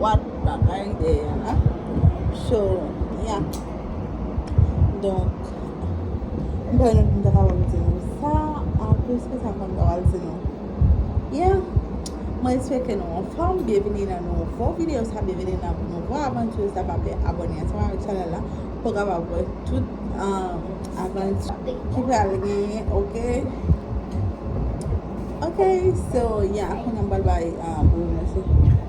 What bagay dèyè la So yeah Donk M pa wè nan ki m ta kapab di nou sa An plis ki sa m konn kapab di nou Yeah Mwen espeke nou anfòm Byenvini nan nouvo videyo sa Byenvini nan nouvo avanti sa Pa bliye abòne ansanm avèk chanèl la Pou w kapab wè tout avanti ki pral genyen ok Ok So yeah Kounya m pral bay Boo yon mèsi.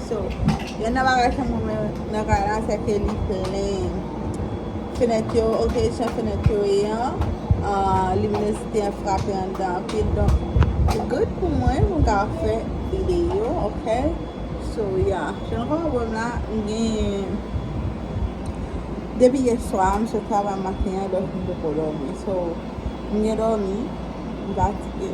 So, yonn nan bagay ke mwen renmen nan kay la se ke li plen. Fenèt yo, ok, jan fenèt yo ye an, luminosite an frape anndan anpil. Donk, li good pou mwen pou m ka fè videyo, ok. So, ya. Jan nou ka wè pou m la, m gen, depi yèswa, m sot travay maten an, donk m poko dòmi. So, m gen dòmi, m fatige.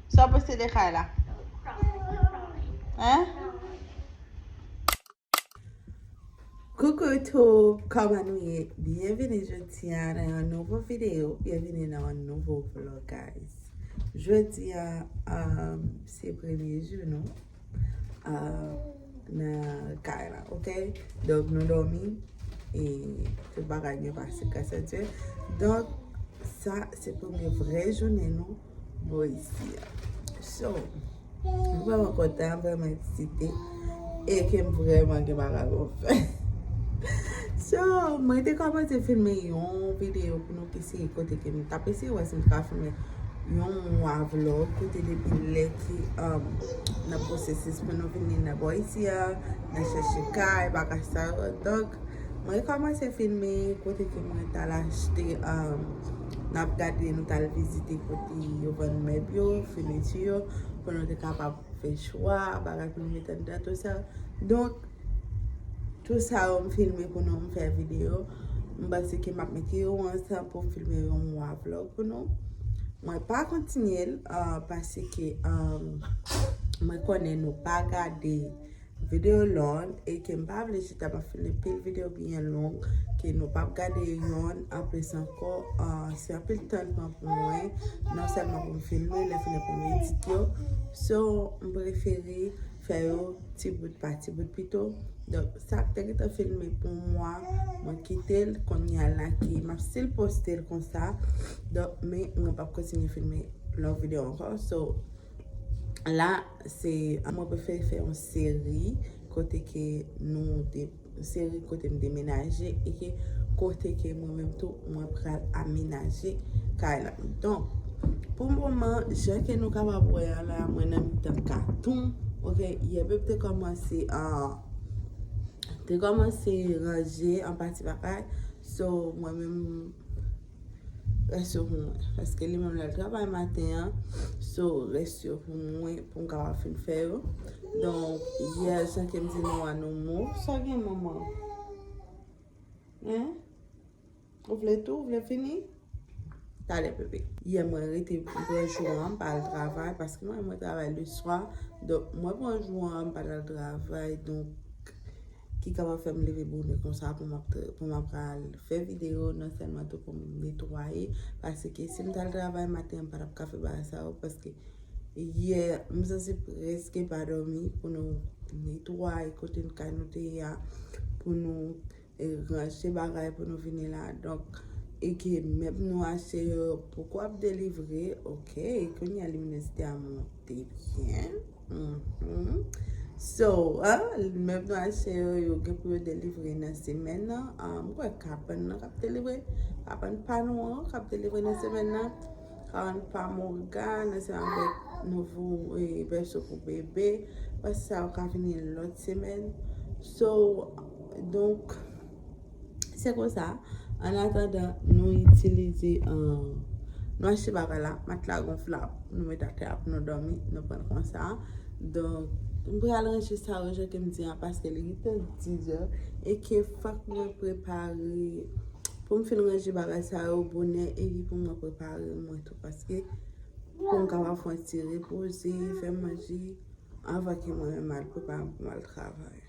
Sa w panse de kay la? Hein? Coucou tout, kòman nou ye? Byenvini jodi a nan yon nouvo video, byenvini nan yon nouvo vlog guys. Jodi a, um, se premye jou nou um, nan kay la, ok? Donk nou dòmi, e tout bagay byen pase grasa Dye. Donk sa se premye vre jounen nou. Boise a. So, m vreman kontan, m vreman eksite, e ke m vreman gen bagay pou m fè. So, mwen te kòmanse filme yon videyo pou nou ki se kote ke m tap eseye wè si m ka filme yon mwa vlog kote depi lè ki nan pwosesis pou nou vini nan Boise a, nan chèche kay, bagay sa yo. Donk, mwen kòmanse filme kote ke mwen tal achte. Nap gade nou tal vizite kote yo vann mèb yo, feneti yo, pou nou te kapab fè chwa, bagay pou nou mete anndan tout sa. Donk, tout sa yo m filme pou nou, m fè video. M panse ke map mete yo ansanm pou m filme yon mwa vlog pou nou. Mwen pa kontinye l, paske mwen konnen nou pa gade. Video long e ke m pa vle chita map fini pil video byen long ke nou pap gade yonn anplis ankò se anpil tan pran pou mwen non sèlman pou m filme lè fini pou m edit yo so m prefere fè yo ti bout pa ti bout pito donk sa m te gentan filme pou mwa mwen kite l kounye a la ki map stil poste l konsa donk men mwen pap kontinye filme long video ankò so. La se mwen prefe fè yon seri kote ke nou de seri kote m demenaje e ke kote ke mwen menm tou mwen pral amenaje kay la. Donk, pou moman, jan ke nou kapab wè a la, mwen nan mitan katon, ok, yè bèb te kòmanse an, te kòmanse ranje an pati pa pati, so mwen menm. Rès yo pou mwen. Paske li menm li al travay maten an. So, rès yo pou mwen pou m kapab fin fè yo. Donk, yè l san ke m di nou a nou mou. Sa gen manman? Hein? Ou vle tou? Ou vle fini? Talè bebe. Yè mwen rete, m pran jou an, m pa al travay. Paske mwen travay le swa. Donk, mwen pran jou an, m pa t al travay. Donk, ki kapab fè m leve bonè konsa pou m ap pou m ap ka al fè videyo non sèlman tou pou m netwaye paske si m t al travay maten m pa t ap ka fè bagay sa yo paske yè m santi prèske pa dòmi pou nou netwaye kote n kay nou te ye a pou nou ranje bagay pou nou vini la donk e ke mèb nou achte yo poko ap delivre ok kounye a liminèsite a monte byen. So, mèb nou achte yo, yo gen pou yo delivre nan semèn nan. Mwen kwè kabann nan kap delivre, kabann pa nou an kap delivre nan semèn nan. Kabann pa Morgan, nan se anvek nouvo bèso pou bebe. Bèso sa yo ka vini lòt semèn. So, donk. Se konsa, an atandan nou itilize, nou achte bagay la, matla gonflab, nou met atè a pou nou dòmi, nou pran konsa. Donk, m pral ranje sa yo jan ke m di an paske li gen tan dizè e ke fòk mwen prepare pou m fin ranje bagay sa yo bonè e pi pou mwen prepare mwen tou paske pou m kapab fè yon ti repoze, fè manje anvan ke mwen menm al prepare m pou m al travay.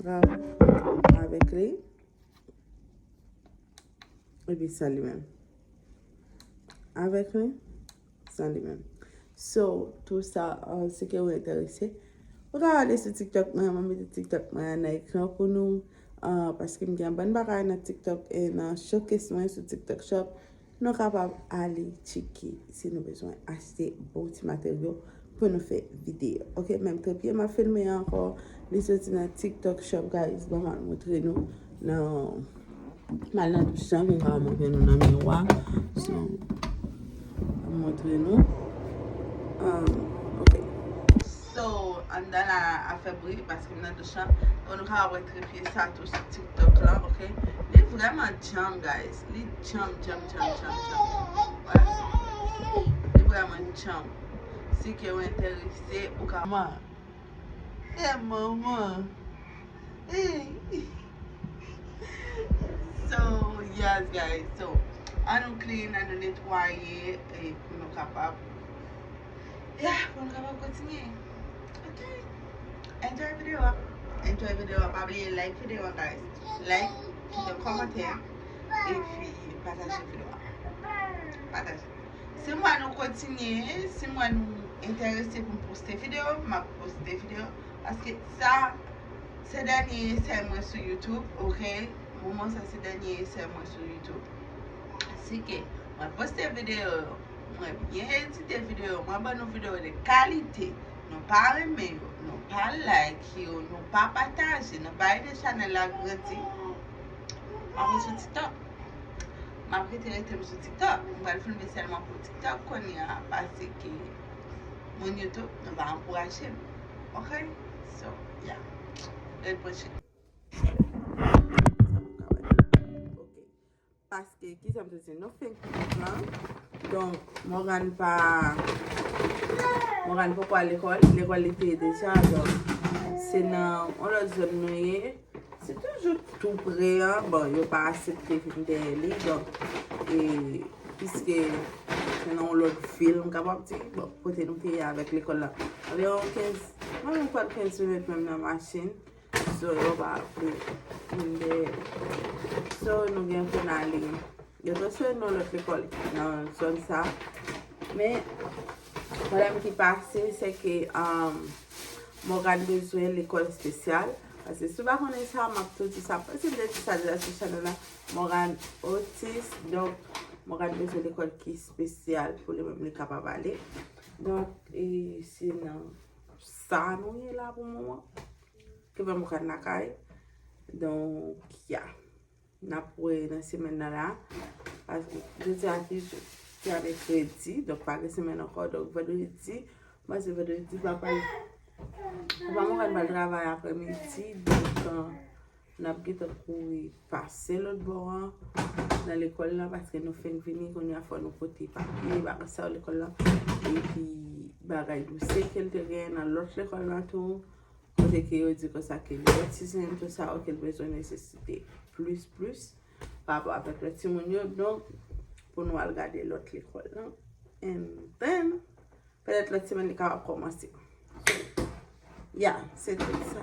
Grav avèk li. E pi sa li menm. Avèk li. Sa li menm. So, tou sa, an se ke ou enterese. Ou ka wale sou TikTok mwen, mwen meti TikTok mwen an nan ekran pou nou. Paske m gen bann bagay nan TikTok e nan showcase mwen sou TikTok shop. Nou kapab ale tcheke si nou bezwen achte bon ti materyo pou nou fè videyo ok menm trepye map filme ankò li soti nan tiktok shop guys banm al montre nou nan mal nan douch lan poum ka montre nou nan miwa so banm montre nou ok So anndan la ap fè bri paske m nan douch lan oh nou kapab wè tripye sa tou sou tiktok la ok li vrèman djanm guys li djanm djanm djanm djanm djanm li vrèman djanm si ke w enterese ou ka man e manman eeyy so yes guys so an nou clean an nou netwaye e pou nou kapab. Yeah, pou nou kapab kontinye. Ok. Enjoy video a. Enjoy video a. Pa bliye like video a guys. Like, kite yon komantè. E pi pataje video a. Pataje. Si mwa nou kontinye, si mwa nou enterese pou m poste video, m ap poste video. Paske sa, se dènye esè mwen sou YouTube. Ok. Moman sa se dènye esè mwen sou YouTube. Asike, mwen poste video yo. Mwen byen edite video mwen ban nou video de kalite nou pa renmen yo nou pa like yo nou pa pataje nou pa ede chanel la grandi mwen mwen sou tiktok mwen prete rete mwen sou tiktok mwen pral filme selman pou tiktok konya pase ke mwen youtube nou pa ankouraje m ok so ya red pwechit Paske, ki sa m te di? Nou fenk pitit lan. Don, Morgane pa... Morgane poko al lekòl. Lekòl li te deja. Don, se nan on lòt zòn nou ye. Se toujou tou pre an. Bon, yo pa asepte vin dèyè li. Don, e... Piske, se nan on lòt vil m kapab di. Bon, kote nou te ye avèk lekòl la. Anviwon 15... Mwen mwen kwè 15 minit menm nan machin. Sò yo pa pou moun dèyè. Sò nou gen pou n ale. Yo transfere nou lòt lekòl nan zòn sa. Men, pwoblèm ki pase se ke Morgane bezwen lekòl espesyal. Pase si w pa konnen sa, m ap tou di sa. Pase m te di sa deja sou chanèl la. Morgane otis. Donk, Morgane bezwen lekòl ki espesyal pou li menm li kapab ale. Donk, e se nan. Sa nou ye la pou mouman. Ke vèm ou kal lakay. Donk ya. Nap wè nan semen nan la. Paske je di ati. Ki ap e kredi. Donk pa gen semen nan kò. Donk vèdou je di. Mwen se vèdou je di. Vèm ou kal. Vèm ou kal bal travay apre midi. Donk. Nap gentan kouri pase lòt bò an nan lekòl la paske nou fenk vini kounye a fò nou pote papye bagay sa yo lekòl la epi bagay dosye kel te genyen nan lòt lekòl la tou kote ke yo di konsa ke li gen ti zen tou sa yo kel bezwen nesesite plis plis pa rapò avèk lòt timoun yo donk pou nou al gade lòt lekòl la and then pètèt lòt semèn li kapab kòmanse ya se tout sa.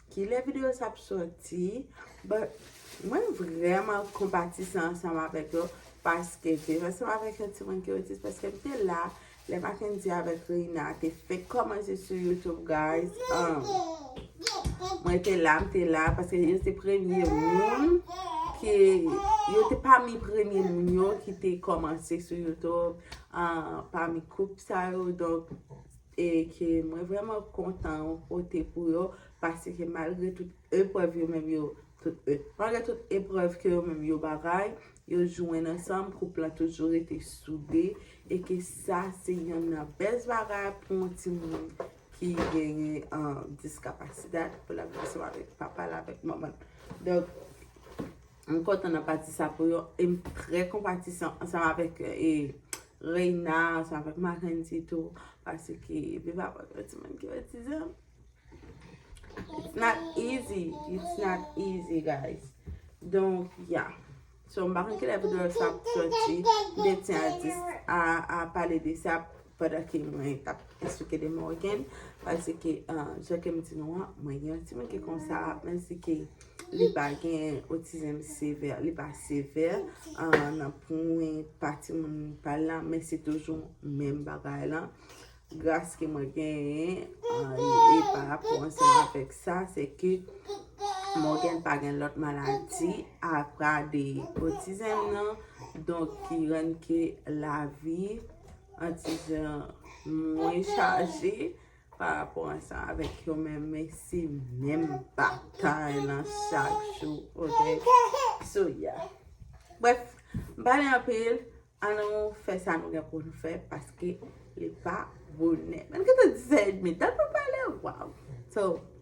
Kilè video sa ap soti. But mwen vreman konpatise ansanm avek yo paske viv ansanm avek yon timoun ki otis paske m te la lè Mackendy avek Reina te fenk komanse sou YouTube guys humm mwen te la m te la paske yo se premye moun ki yo te pami premye moun yo ki te komanse sou YouTube humm pami koup sa yo donk e ke mwen vrèman kontan yon kote pou yo, paske malgre tout eprèv yo menm yo, malgre tout eprèv ke yo menm yo bagay, yo jwenn ansanm, koup lan toujou rete soude, e ke sa se yonn nan best bagay pou yon timoun ki genyen diskapasite, pou l ap viv ansanm avèk papa l, avèk manman l. M kontan nan pati sa pou yo e m trè konpatisan ansanm avèk Reina, ansanm avèk Makendy tou paske epi papa m yon timoun ki otizan it's not easy it's not easy guys donk ya so m pa konn kilè videyo sa ap soti m te di a pale de sa Pandan ke mwen tap esplike de Morgan, pase ke jan ke m di nou an, mwen gen yon timoun ki konsa, menm si ke li pa gen otizm sevè, li pa sevè, nan pwen pa timoun pa l lan, men se toujou menm bagay lan. Gras ke mwen genyen, e pa rapò ansanm avèk sa, se ke Morgan pa gen lòt maladi, apa de otizm nan, donk ki rann ke lavi, Atizan mwen chaje pa rapò an sa avèk yo men men se menm batay lan chak jou oke so ya bref m pale anpil an nou fè sa nou gen pou nou fè paske li pa bonè menm ki te 10 è edmi tan pou pale waw so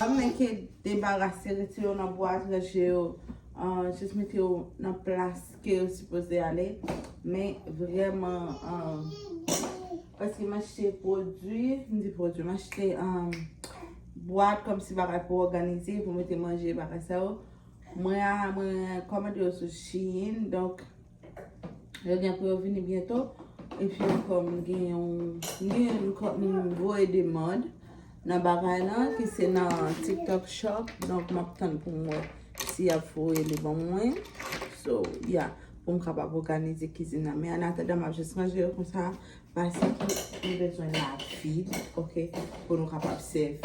Ap menke debarase, retire yo nan bwat, ranje yo, jis mete yo nan plas ke yo sipoze ale. Men vreman, paske m achte pwodwi, m di pwodwi, m achte Bwa komsi bagay pou òganize pou mete manje bagay sa yo mwen a mwen kòmande yo sou shein donk yo gen pou yo vini byento epi ankò m gen yon m gen yon kòm m voye demand nan bagay lan ki se nan tiktok shop donk m ap tann pou m wè si y ap voye li ban mwen so ya pou m kapab òganize kizin nan men anatadan m ap jis ranje yo konsa Pase ki nou bezwen la vil ok pou nou kapab sèvi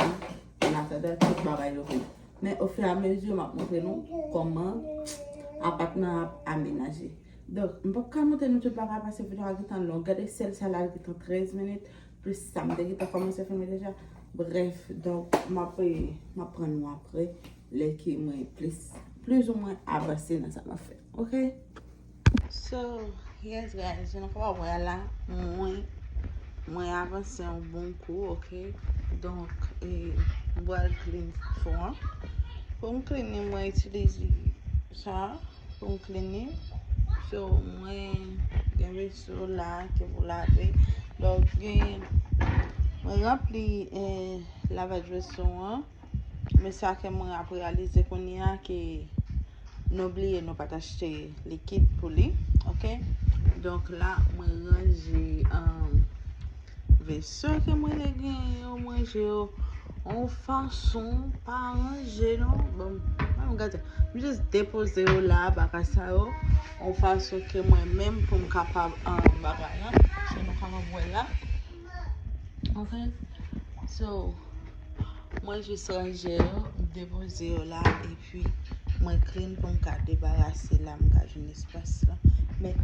an atadan tout bagay yo vini. Men o fur a mesure map montre nou koman apatman an ap amenaje. Donk m pap ka montre nou tout bagay pase video a gentan long. Gade sèl sa la li gentan 13 minit plis sa m te gentan komanse filme deja. Brèf donk map pran nou apre lè ke mwen plis plis ou mwen avanse nan sa map fè ok. So yes guys jan nou ka wè la mwen mwen avanse yon bon kou ok donk e mwen bal clean fason an pou m clean li mwen itilize sa pou m clean li so mwen gen veso la ke pou lave donk gen mwen ranpli e lavaj veso an Men sa ke mwen ap realize kounye a ke nou bliye nou pa t achte likid pou li. Ok. Donk la mwen ranje veso ke mwen te genyen yo. Mwen ranje yo yon fason pa ranje non. Bon, mwen gade. Mwen jis depoze yo la bagay sa yo. Yon fason ke mwen menm pou m kapab an bagay la. Sa nou kapab wè la. Ok So mwen jis ranje yo M depoze yo la epi mwen clean pou m ka debarase la m ka jwenn espas la Men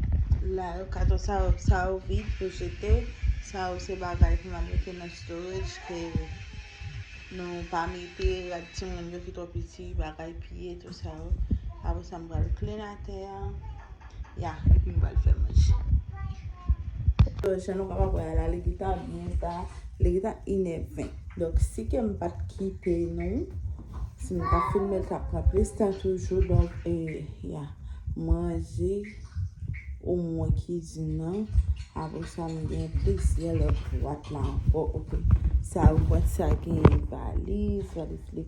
la yo kato sa yo sa yo vid pou jete Sa yo se bagay pou nan mete nan storage ke nou pa mete rad timoun yo ki twò piti bagay piye tout sa yo Apre sa m pral clean atè a Ya, epi m pral fè manje. Yo, jan nou kapab wè a la, li gentan byen ta. Li gentan inè ven. Donk, si ke m pa t kite nou, si m ta filme l t ap pran plis tan toujou. Donk, e, ya. Manje ou mwen kizin nan. Apre sa, m gen plizyè lòt bwat la ankò. Ok. Sa ou wè sa genyen valiz. Valiz li.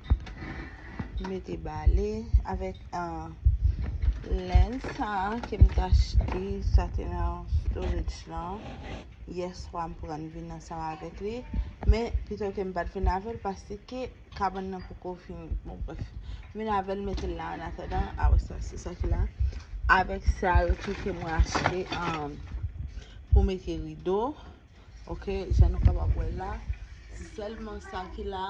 mete bale avèk len sa ke m t achte sa te nan storage lan yèswa m pran m vin ansanm avèk li men pito ke m pat vin avèl paske kabann nan poko fini bon brèf m vin avèl m mete l la anatadan apre sa se sa ki la avèk sa yo tou ke mwen achte pou mete rido Ok jan nou kapab wè la se sèlman sa ki la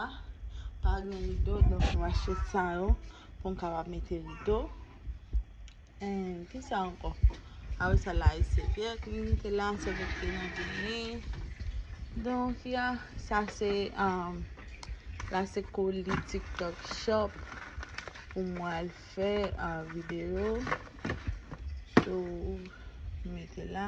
pa gen rido donk nou achte sa yo pou nou kapab mete rido eee ki sa ankò apre sa la e se vyèt nou mete la se pou ki nan vini donk ya sa se amm la se koli tiktok shop pou mwen al fè video sou mete la.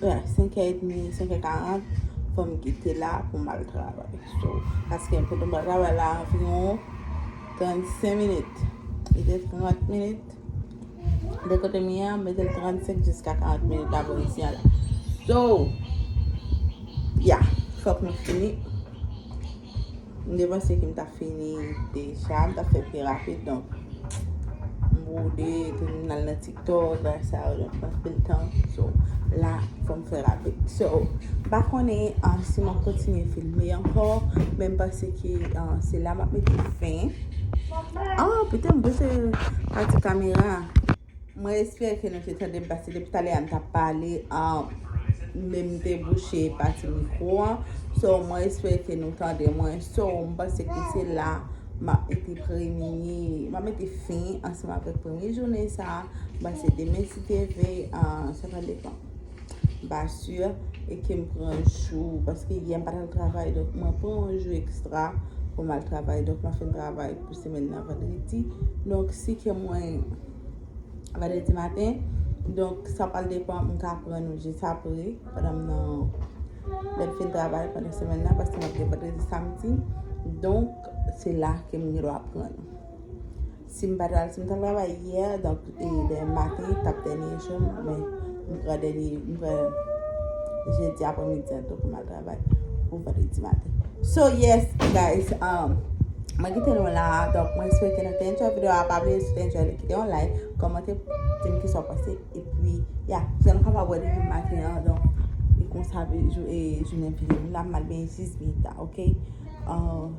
Yeah, 5 è edmi, 5 è 40, fò m kite la pou m al travay. So, paske m fouti m pral travay la anviwon 35 minit. Li gen 30 minit. De kote m ye a, m mete l 35 jiska 40 minit avan m siyan la. So, yeah, fòk m fini. M te panse ke m ta fini deja, m ta fè pi rapid donk m bwode epi m al nan tiktok bay sa yo donk m pran anpil tan so la fò m fè rapid so m pa konnen si m ap kontinye filme ankò men m panse ke se la m ap mete fen an pote m bese pati kamera. Mwen espere ke nou te tandem paske depi talè a m tap pale men m te bouche pati mikro an so mwen espere ke nou tande mwen so m panse ke se la map mete premye map mete fin ansanm avèk premye jounen sa m panse demen si te veye sa pa depan. Basur e ke m pran jou paske yè m pa t al travay donk mwen pran yon jou ekstra pou m al travay donk mwen fin travay pou semèn nan vandredi donk si ke mwen vandredi maten donk sa pral depan m ka pran yon jou jis apre pandan m nan lè m fin travay pandan semèn nan paske mwen gen vandredi samdi donk se la ke m gen dwa pran. Sim pat al sim tal travay yè donk demen maten tap dènye joum men m pran dènye m pran jedi aprè midi an tou poum al travay pou vandredi maten so yes guys um mwen kite nou la donk mwen swete nou te enjoy video a pa bliye si w te enjoy li kite yon like kòmante dim kisa w panse epi ya san nou kapab wè depi maten an donk e konsa jounen fini m la m al benyen 6 minit la ok um.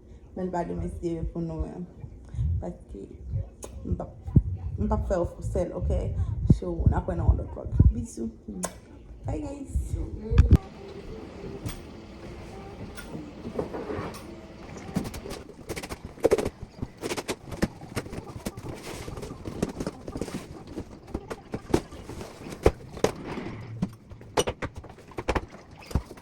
Men l pa gen mesye yo pou nou menm. Paske m pap m pap fè w fou sèl ok. So n ap wè nan yon lòt vlog. Bisou bye guys.